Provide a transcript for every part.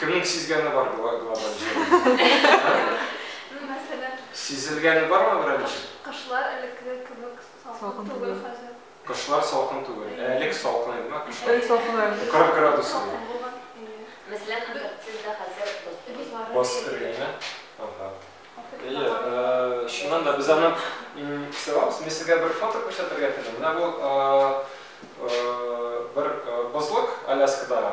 Кемнең сизгәне бар глобаль җылынуны? Мәсәлән. Сизелгәне бармы берәүнең? Кышлар элеккеге кебек салкын түгел хәзер. Кышлар салкын түгел. Ә элек салкын иде ме кышлар? Элек салкын иде. 40 градус иде. Салкын булган. Мәсәлән, Антарктида хәзер бозлар. Боз эрегәнме? Ага. Әйе, чыннан да без аны сыйламыз. Мин сезгә бер фото күрсәтергә телим. Менә бу бер бозлык Аляскадагы.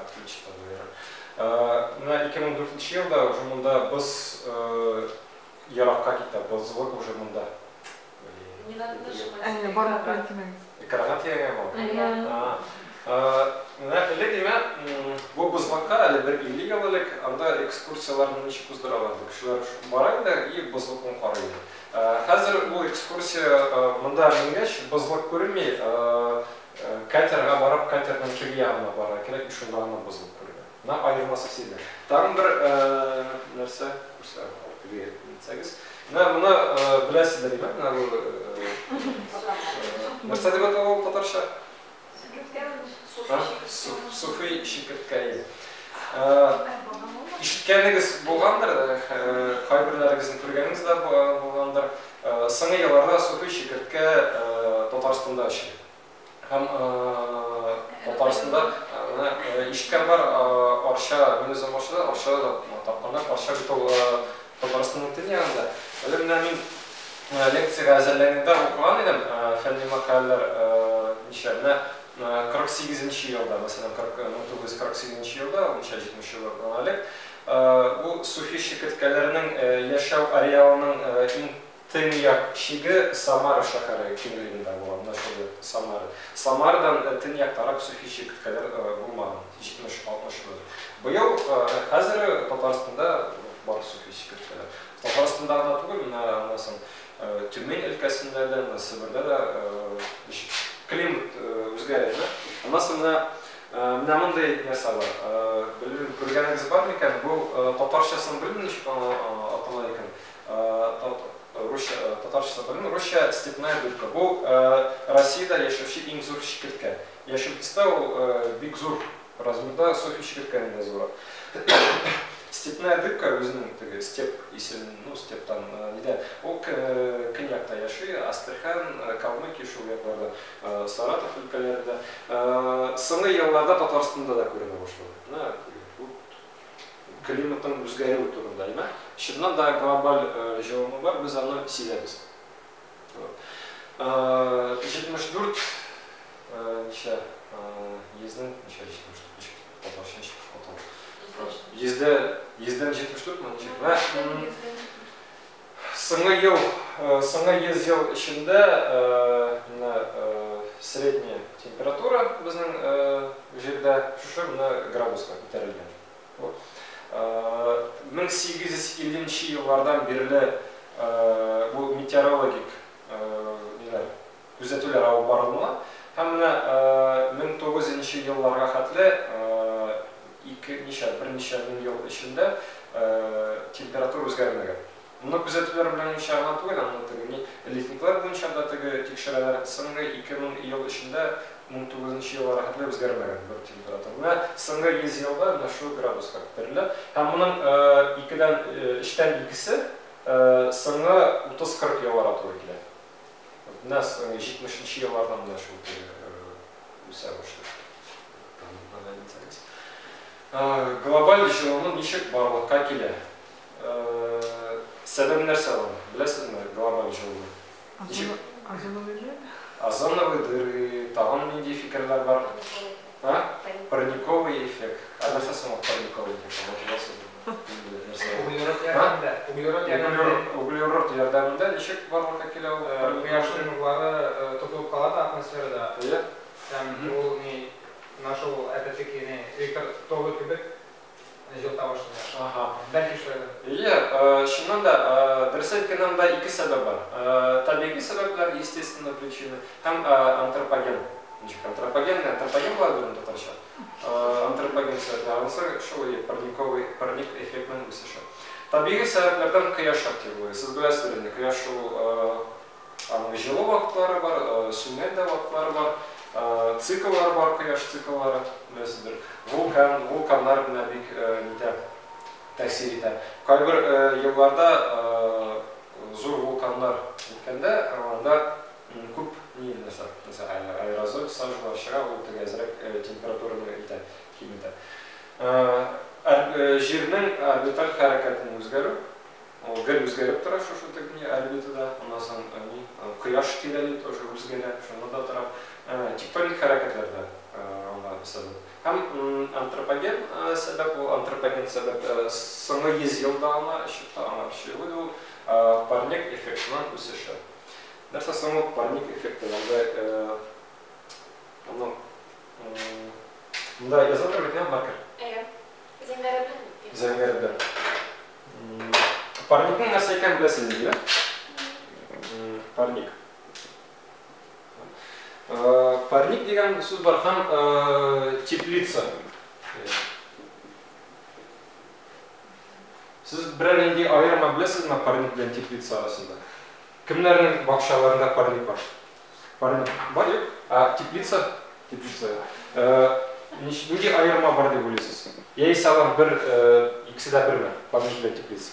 Открытчикта да ярый. Менә 2004 елда уже монда боз еракка китә, бозлык уже монда. Не надо нажимать. Барлык кертмәгез. Экрага тияргә бар. Менә элек имә бу бозлыкка әле бер 50 ел элек анда экскурсияләрне ничек уздыралар иде. Кешеләр бара иде и бозлыкны карый иде. Хәзер бу экскурсия монда менгәч бозлык күренми, Катерга барып, катерның теге ягына барырга кирәк, бит шунда гына бозылып күренә. Менә аермасы сизелә. Тагын бер нәрсә күрсәтәм, алып тегегә китсәгез. Менә моны беләсездер иде, менә бу нәрсә дип атала ул татарча? Суфи чикерткәе. Ишеткәнегез булгандыр, кайберләрегезнең күргәнегез дә булгандыр. Соңгы елларда Суфи Чикерткә Татарстанда эшли һәм Татарстанда менә ишеткән бар Арча, мин үзем Арчадан, Арчада да тапканнар, Арча бит ул Татарстанның төнь ягында. Әле менә мин лекциягә әзерләнгәндә укыган идем фәнни мәкаләләр ничә, менә 48 нче елда, мәсәлән, 1948 нче елда, ул ничә, 70 еллар була элек, Бу суфи чикерткәләрнең яшәү ареалының иң төньяк чиге Самара шәһәре киңлегендә була, менә шул йорт Самара. Самарадан төньяктарак суфи чикерткәләр булмаган, 70-60 мең. Быел, хәзер Татарстанда бар суфи чикерткәләр. Татарстанда гына түгел, менә аннан Тюмень өлкәсендә дә, менә Себердә дә климат үзгәрә. Аннан соң менә Менә мондый нәрсә бар. Белмим, күргәнегез бар микән? Бу татарчасын белмим, ничек атала икән. Русча, татарчасын белмим. Русча степная дудка. Бу Россиядә яшәүче иң зур чикерткә. Яшел төстә, ул бик зур размерда, Софья чикерткәдән дә зуррак. Степная дудка үзенең теге степ исем, ну, стептан, нидән, ул көньякта яши, Астрахань, Калмыкия, шул якларда. Саратов өлкәләрендә, соңгы елларда Татарстанда да күренә башлады. Менә бу климатның үзгәрүе турында әйбә. Чыннан да глобаль җылыну бар, без аны сизәбез. 74 ничә йөзнең ничә 74 татарча ничек атала? Йөздә йөздән 74 мөн ничек? Соңгы ел, соңгы 100 ел эчендә менә средняя температура безнең җирдә шушы менә градуска күтәрелгән. 1850 нче еллардан бирле бу метеорологик ниләр күзәтүләр алып барылмый һәм менә 1900 нче елларга хәтле ике, ничә, берничә мең ел эчендә температура үзгәрмәгән. Моны күзәтүләр белән ничә гына түгел, аны теге ни, летниклар буенча да теге тикшерәләр, соңгы ике мең ел эчендә 1900 нче елларга хәтле үзгәрмәгән бер температура. Менә соңгы 100 елда менә шул градуска күтәрелә һәм моның икедән, өчтән икесе соңгы 30-40 елларга туры килә. Нас җитмешенче еллардан менә шул үсә башлый. Глобаль җылыну ничек барлыкка килә? Сәбәбе нәрсә ул? Беләсезме глобаль җылыну? Озоновый дыры, тагын нинди фикерләр бар? Парниковый эффект. Ә нәрсә соң парниковый эффект? Углерод ярдәмендә. Углерод ярдәмендә. Углерод ярдәмендә ничек барлыкка килә ул? Кояшның нурлары тотылып кала да атмосферада. Әйе. Һәм ул ни, менә шул әпәтеки ни, электр тогы кебек җылыта башлый. Аһа. Бәлки шулай да. Әйе, чыннан да, дөрес әйткәндә, анда ике сәбәп бар. Табигый сәбәпләр, естественные причины, һәм антропоген. Ничек антропоген, антропоген була бит ул татарча. Антропоген сәбәпле ансыр шул ие, парниковый, парник эффектның үсеше. Табигый сәбәпләрдән кояш активлыгы. Сез беләсез бит инде, кояш шул аның җылы вакытлары бар, сүнгән дә вакытлары бар, цикллар бар, кояш цикллары, беләсездер. Вулкан, вулканнар менә бик нитә, тәэсир итә. Кайбер елларда зур вулканнар үткәндә, анда Иң күп ни нәрсә нәрсә аэрозоль сажуга чыга, ул төгәзрәк температураны итә, киметә. Җирнең орбиталь хәрәкәтен үзгәрү, ул гел үзгәреп тора шушы тегни орбитада, аннан соң ни кояш тирәли тоже үзгәрә, шунда да тора. Тектоник хәрәкәтләр дә аңа сәбәп. Һәм антропоген сәбәп, ул антропоген сәбәп соңгы 100 елда гына чыкты, аңа чыгу ул парник эффектының үсеше. Нәрсә соң ул парник эффекты? Анда аны Монда язылып тора бит, ә, маркер? Әйе. Зәңгәре белән. Зәңгәре белән. Парникның нәрсә икәнен беләсезме, дилә? Парник. Парник дигән сүз бар һәм теплица. Сез берәр нинди аерма беләсезме парник белән теплица арасында? Кемнәрнең бакчаларында парник бар? Парник бар, юк? Ә теплица? Теплица. Нинди аерма бар дип уйлыйсыз? Яисә алар бер, икесе дә берме? Парник белән теплица.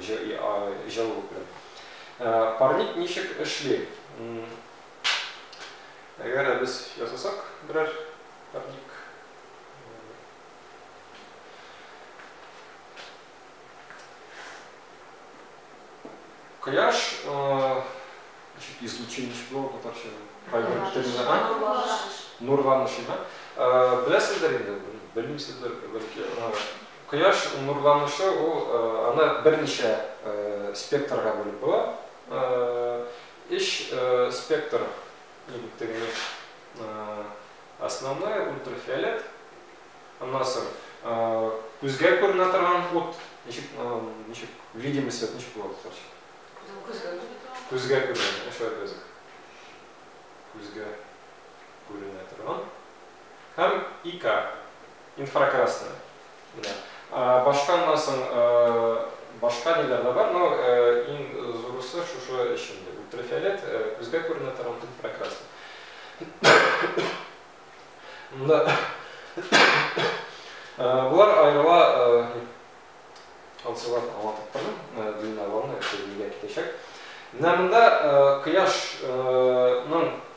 җылылык белән. Парник ничек эшли? Әгәр дә без ясасак берәр парник Кояш ничек излучение ничек була татарча? Нурланыш. Нурланыш, да? Беләсездер инде, белмисездер, бәлки. Кояш нурланышы ул аны берничә спектрга бүлеп була. Өч спектр электроэнергия. Основной ультрафиолет. Аннан соң күзгә күренә торган ут. Ничек, ничек видимый свет ничек була татарча? Күзгә күренә торган. Күзгә күренә. Эш вә без. Күзгә күренә торган. Һәм ИК. Инфракрасный. Менә. Башка аннан соң башка ниләр дә бар, но иң зурысы шушы өч инде. Ультрафиолет, күзгә күренә торган инфракрасный. Монда Булар аерыла алсылар аңлатып тордым, длинноломны кемгә китәчәк. Менә монда кояшның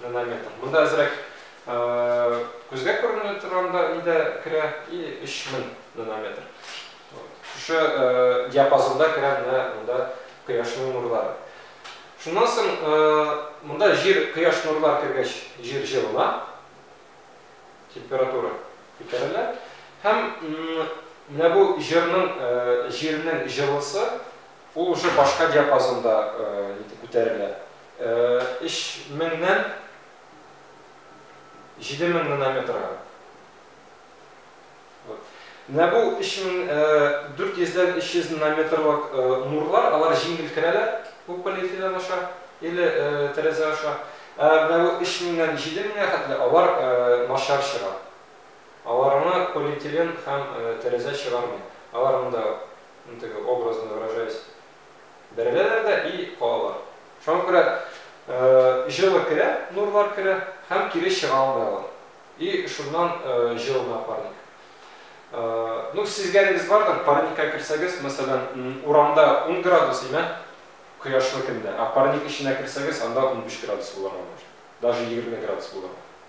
нанометр. Монда әзрәк күзгә күренә торганда нидә керә и 3000 нанометр. Шушы диапазонда керә менә монда кояшның нурлары. Шуннан соң монда җир кояш нурлар кергәч җир җылына, температура күтәрелә һәм менә бу җирнең җирнең җылысы ул уже башка диапазонда күтәрелә. өч меңнән җиде мең нанометрга. Менә бу 3400-дән 300 нанометрлык нурлар, алар җиңел керәләр, бу полиэтилен аша, или тәрәзә аша. Ә менә бу 3000-нән 7000-гә хәтле алар начар чыга. Аларны полиэтилен һәм тәрәзә чыгармый. Алар монда, ну теге, образно выражаясь, Бәреләләр дә и калалар. Шуңа күрә җылы керә, нурлар керә һәм кире чыга алмый алар. И шуннан җылына парник. Ну, сизгәнегез бардыр, парникка керсәгез, мәсәлән, урамда ун градус имә, кояшлы көндә, ә парник эченә керсәгез, анда унбиш градус булырга мөмкин, даже егерме градус булырга.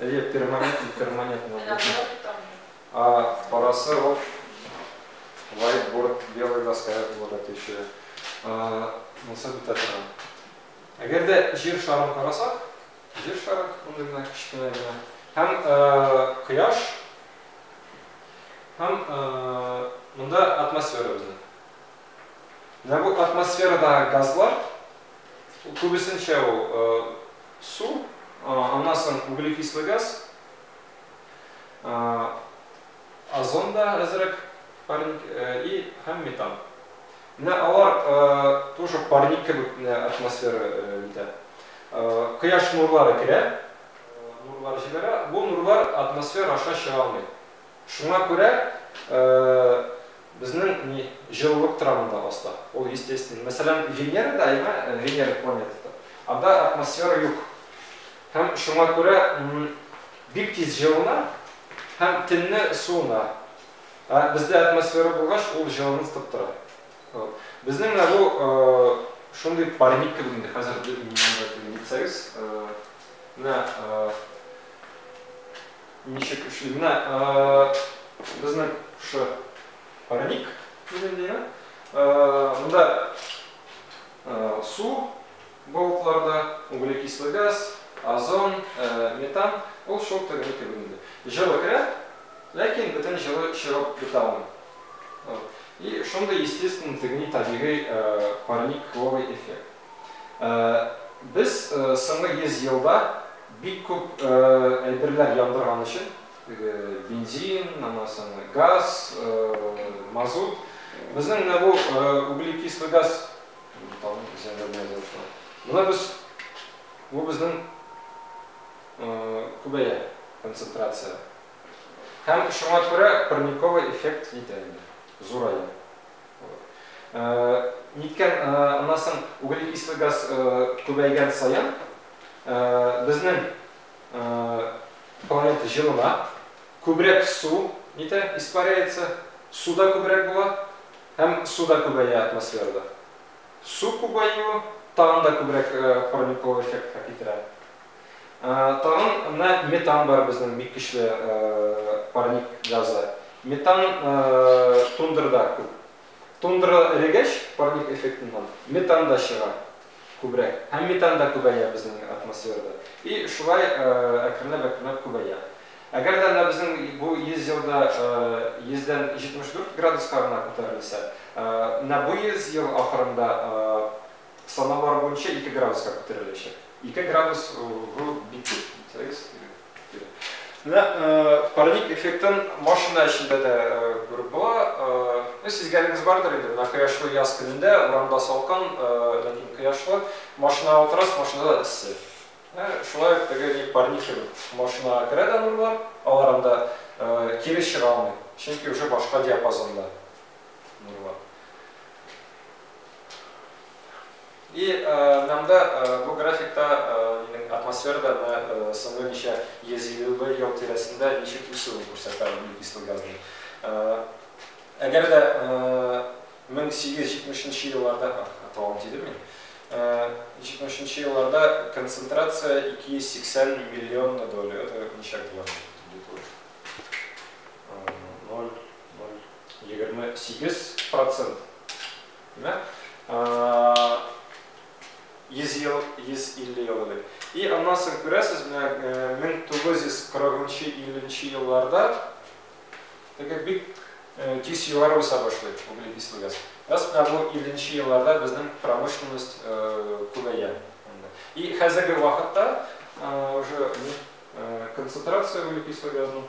Әйе, перманентный, перманентный. А парасы ол whiteboard, белый доская булырга тиешле. Монысы бетә тора. Әгәр дә җир шарын карасак, җир шары мондый гына кечкенә генә. Һәм кояш һәм монда атмосфера безнең. Менә бу атмосферадагы газлар күбесенчә ул су, аннан соң углекислый газ, озон да әзрәк парник и һәм метан. Менә алар тоже парник кебек атмосфера итә. Кояш нурлары керә, нурлар җибәрә, бу нурлар атмосфера аша чыга алмый. Шуңа күрә Безнең ни, җылылык торамы да аста. Ул естественно. Мәсәлән, Венерада, әйме, Венера планетада, анда атмосфера юк. Һәм шуңа күрә бик тиз җылына һәм төнне суына. Ә бездә атмосфера булгач, ул җылынып тып тора. Безнең менә бу шундый парник кебек инде хәзер, дип мин аңлатам, Союз. Менә Ничек эшли? Менә безнең шушы парник дигәндәйме? Монда су балыкларда, углекислый газ, озон, метан, ул шул тегене кебек инде. Җылы керә, ләкин бөтен җылы чыгып бетә алмый. И шундый естественный, тегни табигый парниковый эффект. Без соңгы 100 елда бик күп әйберләр яндырган өчен, теге бензин, аннан соң газ, мазут. Безнең менә бу углекислый газ, там землянная золото. Менә без бу безнең күбәя концентрация. Һәм шуңа күрә парниковый эффект җитә инде, зурая. Ниткән, аннан соң углекислый газ күбәйгән саен безнең планета җылына, күбрәк су нитә, испаряется, су да күбрәк була һәм су да күбәя атмосферада. Су күбәюе тагын да күбрәк парниковый эффектка китерә. Тагын менә метан бар безнең бик көчле парник газы. Метан тундрада күп. Тундра эрегәч, парник эффектыннан метан да чыга күбрәк. Һәм метан да күбәя безнең атмосферада. И шулай әкренләп-әкренләп күбәя. Әгәр дә менә безнең бу 100 елда 100дән 74 градуска гына күтәрелсә, менә бу 100 ел ахырында Самовар буенча ике градуска күтәреләчәк. Ике градус бу бик күп. Сәгез. Менә парник эффектын машина эчендә дә күреп була. Ну, сизгәнегез бардыр инде, менә кояшлы яз көнендә урамда салкын, ләкин кояшлы, машинага утырасыз, машинада эссе. Шулай ук теге ни парник машинага керә дә нурлар, алар анда кире чыга алмый, чөнки уже башка диапазонда нурлар. И нам да бу графикта атмосферада соңгы ничә 150 лы ел тирәсендә ничек үсүен күрсәтә углекислый газның. Әгәр дә 1870 нче елларда, тавым тидермим, 70 нче елларда концентрация 280 миллион на долю, это ничек була? 0,2 егерме сигез процент димәк йөз ел йөз илле ел элек и аннан соң күрәсез менә мең тугыз йөз кырыгынчы илленче елларда теге бик тиз югары үсә башлый углекислый газ раз менә бу илленче елларда безнең промышленность күбәя и хәзерге вакытта уже концентрация углекислый газның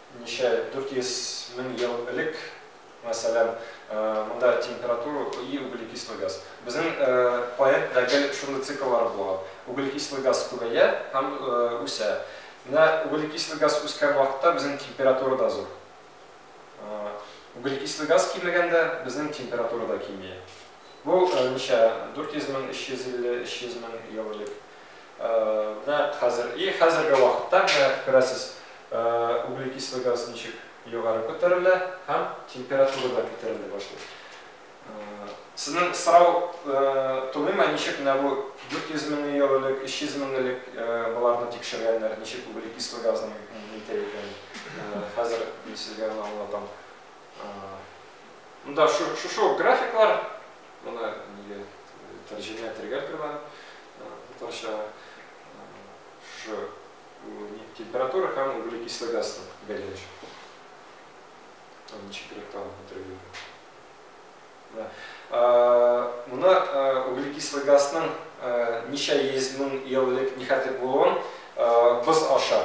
Ничә 400 мең ел элек, мәсәлән, монда температура и углекислый газ. Безнең поэт да гел шундый цикллар булган. Углекислый газ күбәя һәм үсә. Менә углекислый газ үскән вакытта безнең температура да зур. Углекислый газ кимегәндә, безнең температура да кими. Бу ничә 400 мең, 350, 300 мең ел элек. Менә хәзер, и хәзерге вакытта, менә күрәсез, углекислый газ ничек югары күтәрелә һәм температура да күтәрелә башлый. Сезнең сорау тумыймы, ничек менә бу 400 мең ел элек, 300 мең элек боларны тикшергәннәр, ничек углекислый газның нитә икәнен? Хәзер мин сезгә аны аңлатам. Монда шушы ук графиклар. Моны нигә тәрҗемә итәргә торган татарча шушы температура һәм углекислый газның бәйләнеше. Ничегрәк тагын бетерергә. Моны углекислый газның ничә йөз мең ел элек нихәтлек булуын боз аша,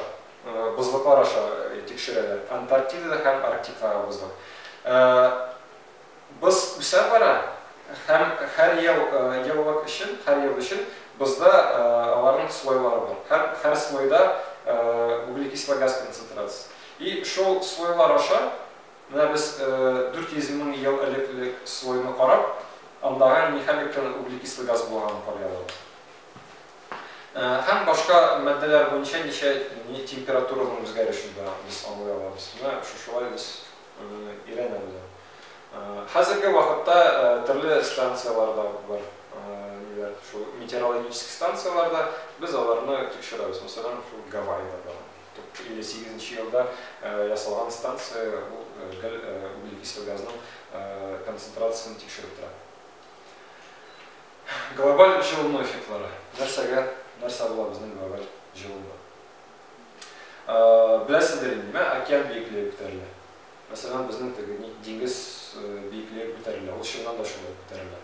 бозлыклар аша тикшерәләр. Антарктидада һәм Арктикага бозлык. Боз үсә бара һәм һәр ел еллык өчен, һәр ел өчен бозда аларның слойлары бар һәм һәр слойда углекислый газ концентрациясе. И шул слойлар аша менә без 400 мең ел элекле слойны карап, андагы нихәллек кенә углекислый газ булганын карый алабыз. Һәм башка матдәләр буенча ничә температураның үзгәрешен дә без аңлый алабыз. Менә шушылай без өйрәнәләр. Хәзерге вакытта төрле станцияләрдә бар ниләр шул метеорологический станцияләрдә без аларны тикшерәбез. Мәсәлән, шул Гавайида бар. 58 нче елда ясалган станция бу гел углекислый газның концентрациясен тикшереп тора. Глобаль җылыну эффектлары. Нәрсәгә нәрсә була безнең глобаль җылыну? Беләсездер инде, мә, океан биеклеге күтәрелә. Мәсәлән, безнең теге ни, диңгез биеклеге күтәрелә. Ул чыннан да шулай күтәрелә.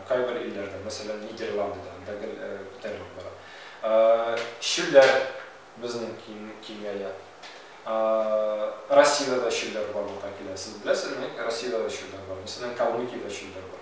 Кайбер илләрдә, мәсәлән, Нидерландыда анда гел күтәрелеп бара. Чүлләр безнең киңәя. Россиядә дә чүлләр барлыкка килә. Сез беләсезме, Россиядә дә чүлләр бар. Мәсәлән, Калмыкиядә чүлләр бар.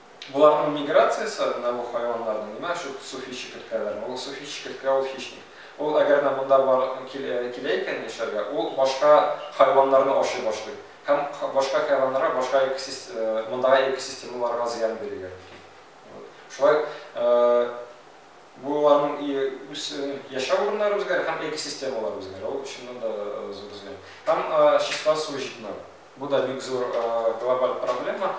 Боларның миграциясе, менә бу хайваннарның, менә шул суфи чикерткәләрнең, ул суфи чикерткә, ул хищник. Ул әгәр дә монда бар килә икән яшәргә, ул башка хайваннарны ашый башлый һәм башка хайваннарга, башка мондагы экосистемаларга зыян бирергә мөмкин. Шулай буларның үз яшәү урыннары үзгәрә һәм экосистемалар үзгәрә. Ул чыннан да зур зыян. Һәм чиста су җитмәү. Бу да бик зур глобаль проблема.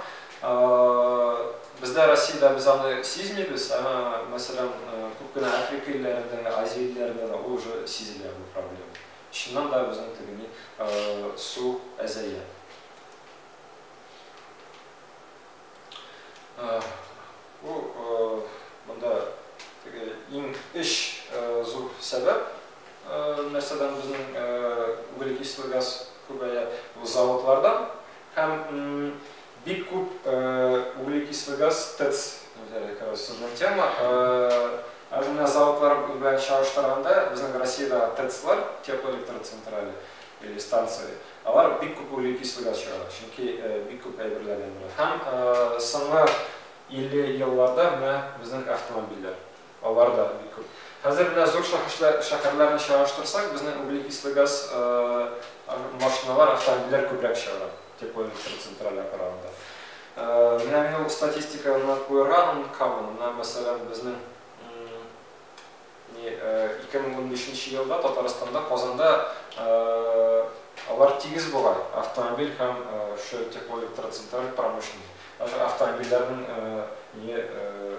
Бездә Россиядә без аны сизмибез, әмма, мәсәлән, күп кенә Африка илләрендә, Азия илләрендә дә ул уже сизелә бу проблема. Чыннан да безнең тегени су әзәя. Бу монда теге иң эш зур сәбәп нәрсәдән безнең углекислый газ күбәя бу заводлардан һәм бик күп углекислый газ ТЭЦ сезнең тема әзмә заводлар белән чагыштырганда безнең Россиядә ТЭЦлар теплоэлектроцентрале или станция Алар бик күп угле кислыга чыгара, чөнки бик күп әйберләр яндыра. Һәм соңгы 50 елларда менә безнең автомобильләр, алар да бик күп. Хәзер менә зур шәһәрләрне чагыштырсак, безнең угле кислы газ машиналар, автомобильләр күбрәк чыгара, теплоэлектр центральләр караганда. Менә мин ул статистиканы куерган, кабын, менә мәсәлән, безнең Ике мең унбишенче елда Татарстанда, Казанда алар тигез бугай, автомобиль һәм шу теплоэлектроцентраль промышленный. Даже автомобильләрнең не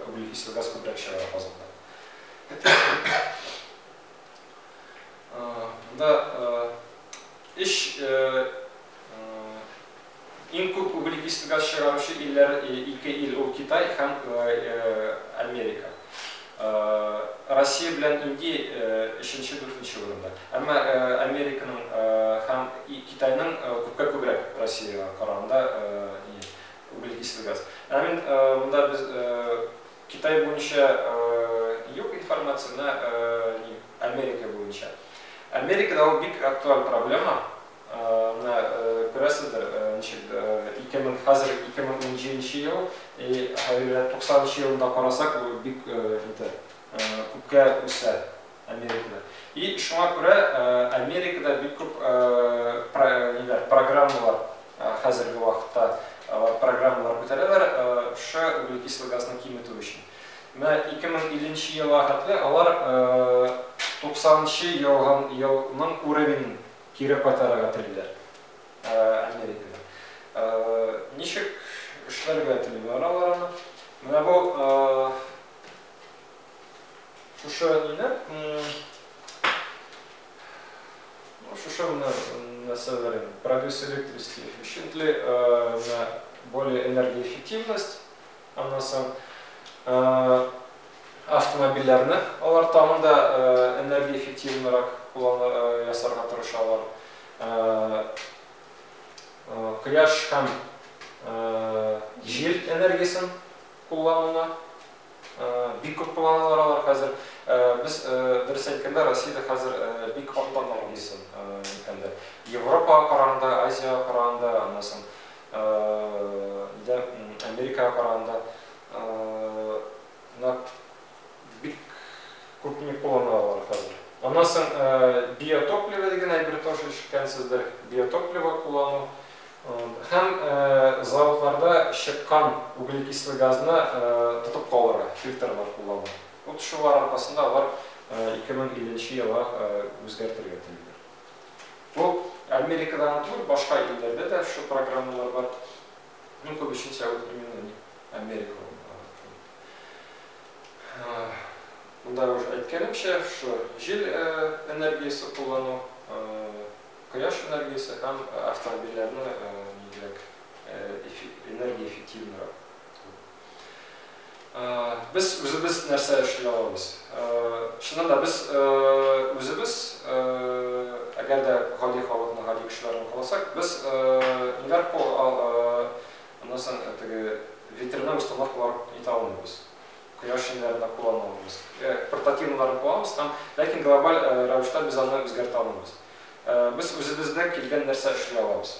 углекислый газ күбрәк чыгара Казанда. Монда эш Иң күп углекислый газ чыгаручы илләр ике ил ул Китай һәм Америка. Россия белән Индия өченче, дүртенче урында. Әмма Американың һәм Китайның күпкә күбрәк Россиягә караганда углекислый газ. Менә мин монда без Китай буенча юк информация, менә Америка буенча. Америкада ул бик актуаль проблема, Менә күрәсездер, ничек ике мең, хәзер ике мең унҗиденче ел, и һәле туксанынчы елында карасак, бу бик инде күпкә үсә Америкада. И шуңа күрә Америкада бик күп ниләр, программалар хәзерге вакытта программалар күтәрәләр шушы углекислый газны киметү өчен. Менә ике мең илленче елга хәтле алар туксанынчы елның уровенен Кире кайтарырга телиләр. Америкада. Ничек эшләргә телиләр алар аны? Менә бу шушы ниләр? Шушы менә нәрсәләр инде. Продюс электрический эффективность, более энергоэффективность, Аннан соң автомобильләрне алар тагын да энергоэффективнырак ясарга тырышалар. Кояш һәм җил энергиясен куллануны бик күп кулланалар алар хәзер. Без дөрес әйткәндә Россиядә хәзер бик арта тәнкыйсен. Европага караганда, Азиягә караганда, аннан соң Нидә Америкага караганда нат бик күпне куллана алар хәзер. Аннан соң биотопливо дигән әйбер тоже ишеткәнсездер. Биотопливо куллану һәм заводларда чыккан углекислый газны тотып калырга фильтрлар куллану. Вот шулар аркасында алар 2050 елга үзгәртергә телиләр. Бу Америкада гына түгел, башка илләрдә дә шул программалар бар. Иң күбесенчә ул именно ни, Америка ул. Монда уже әйткәнемчә, шу җил энергиясе куллану, кояш энергиясе һәм автомобильләрне нигрәк энергия эффективнырак Без үзебез нәрсә эшли алабыз? Чыннан да без үзебез, әгәр дә гади халыкны, гади кешеләрне каласак, без инверко аннан соң теге ветряной установкалар итә алмыйбыз. Кояш җеннәренә куллана алмыйбыз. Портативныйларны кулланабыз һәм ләкин глобаль рәвештә без аны үзгәртә алмыйбыз. Без үзебездә килгән нәрсә эшли алабыз?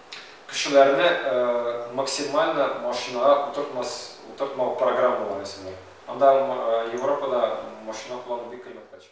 Кешеләрне максимально машинага утыртмау программалары ясыйлар. Анда Европада машина куллану бик кыйммәткә төшә.